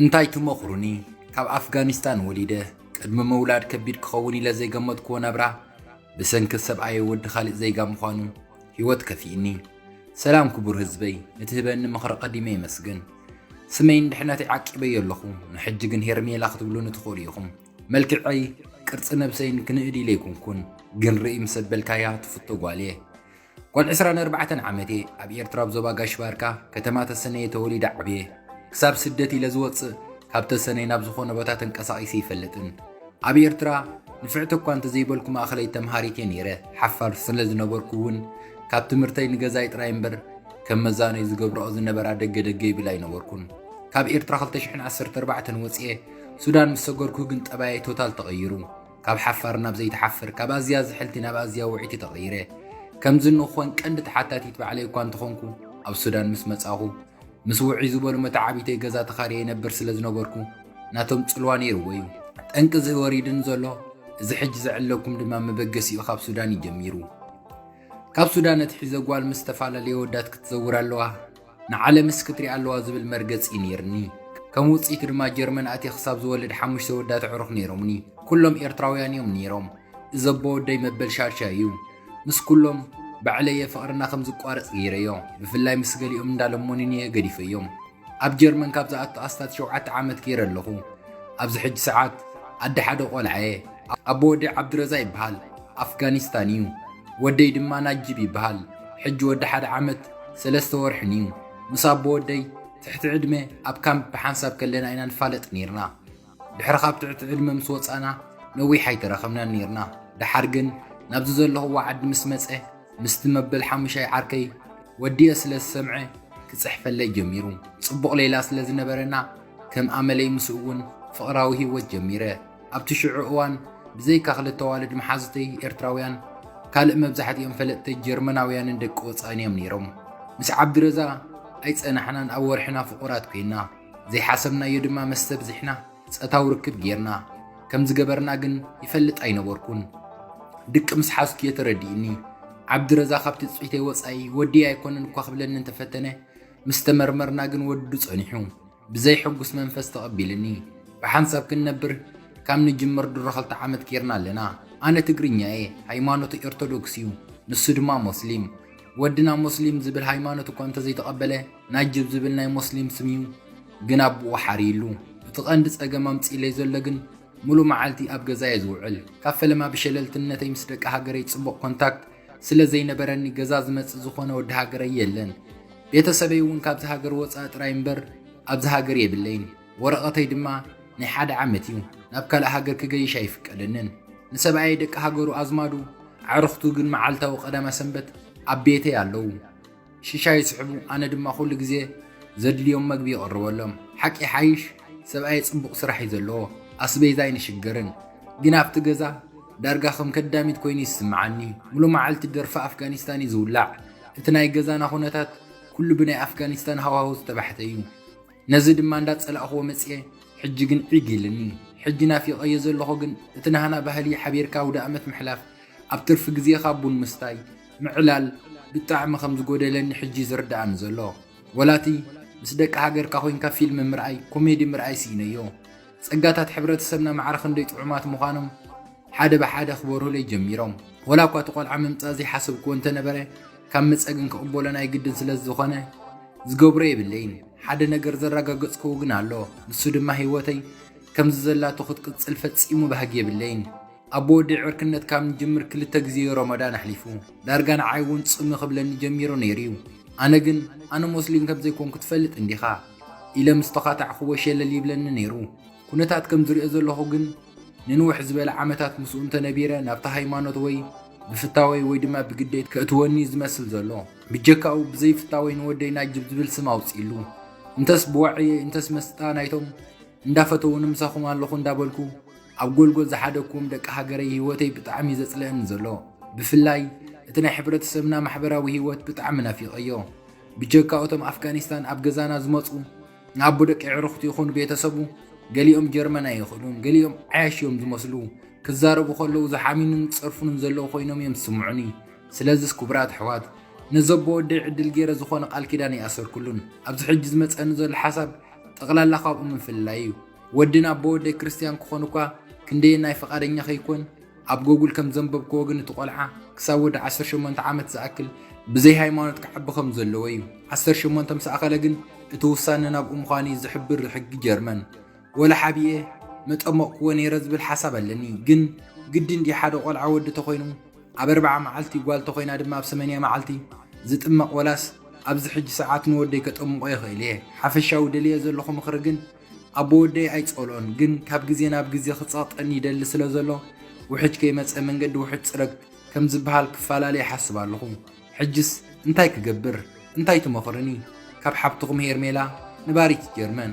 እንታይ ትመኽሩኒ? ካብ ኣፍጋኒስታን ወሊደ ቅድሚ ምውላድ ከቢድ ክኸውን ኢለ ዘይገመትክዎ ናብራ ብሰንኪ ሰብኣየ ወዲ ካልእ ዜጋ ምዃኑ ህይወት ከፊእኒ። ሰላም ክቡር ህዝበይ፣ ንትህበኒ ምኽሪ ቀዲመ የመስግን። ስመይን ድሕነተይ ዓቂበዮ ኣለኹ፣ ንሕጂ ግን ሄርሜላ ክትብሉኒ ትኽእሉ ኢኹም። መልክዐይ ቅርጺ ነብሰይን ክንእድ ኢለ ኣይኮንኩን፣ ግን ርእይ ምስ ኣበልካያ ትፍቶ ጓል'የ። ጓል ዕስራን ኣርባዕተን ዓመት'የ፣ ኣብ ኤርትራ ኣብ ዞባ ጋሽ-ባርካ፣ ከተማ ተሰነየ ተወሊደ ዓብየ። ክሳብ ስደት ኢለ ዝወጽእ ካብ ተሰነይ ናብ ዝኾነ ቦታ ተንቀሳቒሰ ኣይፈልጥን። ኣብ ኤርትራ ንፍዕቲ'ኳ እንተዘይበልኩ ማእከለይ ተምሃሪት'የ ነይረ፣ ሓፋር ስለ ዝነበርኩ'ውን ካብ ትምህርተይ ንገዛይ ጥራይ እምበር ከም መዛኖይ ዝገብርኦ ዝነበራ ደገ ደገ ይብል ኣይነበርኩን። ካብ ኤርትራ ክልተ ሽሕን ዓሰርተ ኣርባዕተን ወጽኤ፣ ሱዳን ምስ ሰገርኩ ግን ጠባየይ ቶታል ተቐይሩ። ካብ ሓፋር ናብ ዘይትሓፍር፣ ካብ ኣዝያ ዝሕልቲ ናብ ኣዝያ ውዕይቲ ተቐይረ። ከምዚ ንክኾን ቀንዲ ተሓታቲት ባዕለይ እኳ እንተኾንኩ፣ ኣብ ሱዳን ምስ መጻኹ፣ ምስ ውዕይ ዝበሉ መተዓብይተይ ገዛ ተኻርየ ይነብር ስለ ዝነበርኩ፣ ናቶም ጽልዋ ነይርዎ'ዩ። ጠንቂ እዚ ወሪድኒ ዘሎ፣ እዚ ሕጂ ዝዕለኩም ድማ መበገሲኡ ካብ ሱዳን'ዩ ጀሚሩ። ካብ ሱዳን ኣትሒዘ ጓል ምስ ዝተፈላለየ ኣወዳት ክትዘውር ኣለዋ። ንዓለምስ ክትሪኣ ኣለዋ ዝብል መርገጺ እዩ ነይርኒ። ከም ውጽኢቱ ድማ ጀርመን ኣትየ ክሳብ ዝወልድ ሓሙሽተ ወዳት ኣዕሩኽ ነይሮሙኒ። ኩሎም ኤርትራውያን እዮም ነይሮም። እዚ ኣቦ ወደይ መበል ሻድሻይ እዩ። ምስ ኩሎም ባዕለይ እየ ፍቕርና ከም ዝቋረጽ ገይረዮ። ብፍላይ ምስ ገሊኦም እንዳ ለመኑኒ እየ ገዲፈዮም። ኣብ ጀርመን ካብ ዝኣቱ ኣስታት ሸውዓተ ዓመት ገይረ ኣለኹ። ኣብዚ ሕጂ ሰዓት ኣደ ሓደ ቆልዓ እየ። ኣቦ ወደይ ዓብዱረዛ ይበሃል። ኣፍጋኒስታን እዩ ወደይ ድማ ናጂብ ይበሃል ሕጂ ወዲ ሓደ ዓመት ሰለስተ ወርሕን እዩ ምስ ኣቦ ወደይ ትሕቲ ዕድመ ኣብ ካምፕ ብሓንሳብ ከለና ኢና ንፋለጥ ኔርና ድሕሪ ካብ ትዕቲ ዕድመ ምስ ወጻና ነዊሕ ኣይተራኸብናን ኔርና ደሓር ግን ናብዚ ዘለኹዎ ዓዲ ምስ መጸ ምስቲ መበል ሓሙሻይ ዓርከይ ወዲየ ስለ ዝሰምዐ ክጽሕፈለይ ጀሚሩ ጽቡቕ ሌላ ስለ ዝነበረና ከም ኣመለይ ምስኡውን ፍቕራዊ ሂወት ጀሚረ ኣብቲ ሽዑ እዋን ብዘይካ ክልተ ኣዋልድ መሓዙተይ ኤርትራውያን፣ ካልእ መብዛሕትኦም ፈለጥተይ ጀርመናውያንን ደቂ ወጻእን እዮም ነይሮም። ምስ ዓብዲረዛ ኣይጸናሕናን ኣብ ወርሕና ፍቑራት ኰይንና። ዘይሓሰብናዮ ድማ መስተ ብዚሕና ጸታዊ ርክብ ገይርና። ከም ዝገበርና ግን ይፈልጥ ኣይነበርኩን። ድቂ ምስ ሓዝኩ እየ ተረዲኡኒ። ዓብዲረዛ ካብ ትጽቢተይ ወጻኢ ወድየይ ኣይኰነን እኳ ክብለኒ እንተፈተነ፣ ምስ ተመርመርና ግን ወዱ ጸኒሑ። ብዘይ ሕጉስ መንፈስ ተቐቢልኒ ብሓንሳብ ክንነብር ካብ ንጅምር ድሮ ክልተ ዓመት ጌርና ኣለና። ኣነ ትግርኛ እየ ሃይማኖተይ ኦርቶዶክስ እዩ ንሱ ድማ ሞስሊም። ወድና ሞስሊም ዝብል ሃይማኖት እኳ እንተዘይተቐበለ ናጅብ ዝብል ናይ ሞስሊም ስም እዩ ግን ኣቡኡ ሓርይሉ። እቲ ቀንዲ ጸገም ኣምጺኢለይ ዘሎ ግን ሙሉእ መዓልቲ ኣብ ገዛ እየ ዝውዕል ካብ ፈለማ ብሸለልትነተይ ምስ ደቂ ሃገረይ ጽቡቕ ኮንታክት ስለ ዘይነበረኒ ገዛ ዝመጽእ ዝኾነ ወዲ ሃገረይ የለን። ቤተሰበይ እውን ካብዚ ሃገር ወጻኢ ጥራይ እምበር ኣብዚ ሃገር የብለይን። ወረቐተይ ድማ ናይ ሓደ ዓመት እዩ። ናብ ካልእ ሃገር ክገይሽ ኣይፍቀደንን። ንሰብኣየይ ደቂ ሃገሩ ኣዝማዱ ኣዕርኽቱ ግን መዓልታዊ ቀዳማ ሰንበት ኣብ ቤተይ ኣለዉ። ሽሻይ ይስሕቡ፣ ኣነ ድማ ኩሉ ግዜ ዘድልዮም መግቢ ይቕርበሎም። ሓቂ ይሓይሽ ሰብኣየይ ጽቡቕ ስራሕ እዩ ዘለዎ፣ ኣስቤዛ ኣይንሽገርን። ግን ኣብቲ ገዛ ዳርጋ ከም ከዳሚት ኮይኑ ይስምዓኒ። ሙሉ መዓልቲ ደርፊ ኣፍጋኒስታን እዩ ዝውላዕ። እቲ ናይ ገዛና ኩነታት ኩሉ ብናይ ኣፍጋኒስታን ሃዋሁ ዝተባሕተ እዩ። ነዚ ድማ እንዳጸላእክዎ መጽየ ሕጂ ግን ዒግ ኢልኒ ሕጂ ናፊቀዮ ዘለኩ ግን እቲ ናህና ባህሊ ሓቢርካ ኣውዳኣመት ምሕላፍ ኣብ ትርፊ ግዜካ ቡን ምስታይ ምዕላል ብጣዕሚ ከም ዝጎደለኒ ሕጂ ዩ ዝርዳኣኒ ዘሎ ወላ እቲ ምስ ደቂ ሃገርካ ኮንካ ፊልም ምርኣይ ኮሜዲ ምርኣይ ሲኢነዮ ጸጋታት ሕብረተሰብና ማዕረ ክንደይ ጥዑማት ምኳኖም ሓደ ብሓደ ክበርሁለይ ጀሚሮም። ወላ እኳ እቲ ቆልዓ ምምጻእ ዘይሓሰብክዎ እንተነበረ፣ ካብ ምጸ ግን ክቕበሎ ናይ ግድን ስለ ዝኾነ ዝገብሮ የብለይን። ሓደ ነገር ዘረጋገጽክዎ ግን ኣሎ፣ ንሱ ድማ ህይወተይ ከምዚ ዘላቶ ክትቅጽል ፈጺሙ ባህጊ የብለይን። ኣቦ ወደይ ዕርክነት ካብ ንጅምር ክልተ ግዜ'ዩ ሮሞዳን ኣሕሊፉ። ዳርጋ ንዓይ እውን ጽምእ ክብለኒ ጀሚሩ ነይሩ'ዩ። ኣነ ግን ኣነ ሞስሊም ከም ዘይኮንኩ ትፈልጥ እንዲኻ ኢለ ምስ ተዃታዕክዎ ሸለል ይብለኒ ነይሩ። ኩነታት ከም ዝርእዮ ዘለኹ ግን፣ ንንውሕ ዝበለ ዓመታት ምስኡ እንተ ነቢረ ናብታ ሃይማኖት ወይ ብፍታወይ ወይ ድማ ብግዴት ከእትወኒ እዩ ዝመስል ዘሎ። ብጀካኡ ብዘይ ፍታወይ ንወደይ ናጅብ ዝብል ስም ኣውጺእሉ። እንተስ ብዋዕየይ እንተስ መስጣ ናይቶም እንዳፈተዉኒ ምሳኹም ኣለኹ እንዳበልኩ ኣብ ጎልጎል ዝሓደግኩዎም ደቂ ሃገረይ ህይወተይ ብጣዕሚ እዩ ዘጽልኣኒ ዘሎ። ብፍላይ እቲ ናይ ሕብረተሰብና ማሕበራዊ ህይወት ብጣዕሚ ናፊቐዮ። ብጀካ እቶም ኣፍጋኒስታን ኣብ ገዛና ዝመጹ ንኣቦ ደቂ ኣዕሩኽቱ ይኹን ቤተሰቡ ገሊኦም ጀርመን ኣይኽእሉን፣ ገሊኦም ዓያሹ እዮም ዝመስሉ፣ ክዛረቡ ከለዉ ዝሓሚኑን ዝጸርፉንን ዘለዉ ኮይኖም እዮም ዝስምዑኒ፣ ስለዚስ ክቡራት ኣሕዋት ነዚ ኣቦ ወደይ ዕድል ጌረ ዝኾነ ቃል ኪዳን ኣይኣሰርኩሉን፣ ኣብዚ ሕጂ ዝመጸኒ ዘሎ ሓሳብ ጠቕላላ ካብኡ ምፍልላይ እዩ፣ ወድን ኣቦ ወደይ ክርስትያን ክኾኑ እኳ ክንደየናይ ፍቓደኛ ከይኮን፣ ኣብ ጎጉል ከም ዘንበብክዎ ግን እቲ ቆልዓ ክሳብ ወዲ ዓሰርተ ሸሞንተ ዓመት ዝኣክል ብዘይ ሃይማኖት ክዓቢ ከም ዘለዎ እዩ። ዓሰርተ ሸሞንተ ምስ ኣኸለ ግን እቲ ውሳነ ናብኡ ምዃኑ እዩ ዝሕብር ሕጊ ጀርመን። ወላ ሓቢኤ መጠመቕክዎ ነይረ ዝብል ሓሳብ ኣለኒ። ግን ግዲ እንድዩ ሓደ ቆልዓ ወዲ ተኾይኑ ኣብ ኣርብዓ መዓልቲ ጓል ተኾይና ድማ ኣብ ሰመንያ መዓልቲ ዝጥመቕ ወላስ ኣብዚ ሕጂ ሰዓት ንወደይ ከጠምቖ ይኽእል እየ። ሓፈሻዊ ደልየዮ ዘለኹ ምኽሪ ግን ኣቦ ወደይ ኣይጸልኦን ግን ካብ ግዜ ናብ ግዜ ክጸቅጠኒ ይደሊ ስለ ዘሎ ውሕጅ ከይመጸ መንገዲ ውሕጅ ጽረግ ከም ዝብሃል ክፋላለ ይሓስብ ኣለኹ ሕጅስ እንታይ ክገብር እንታይ ትመኽርኒ ካብ ሓብትኹም ሄርሜላ ንባሪት ጀርመን።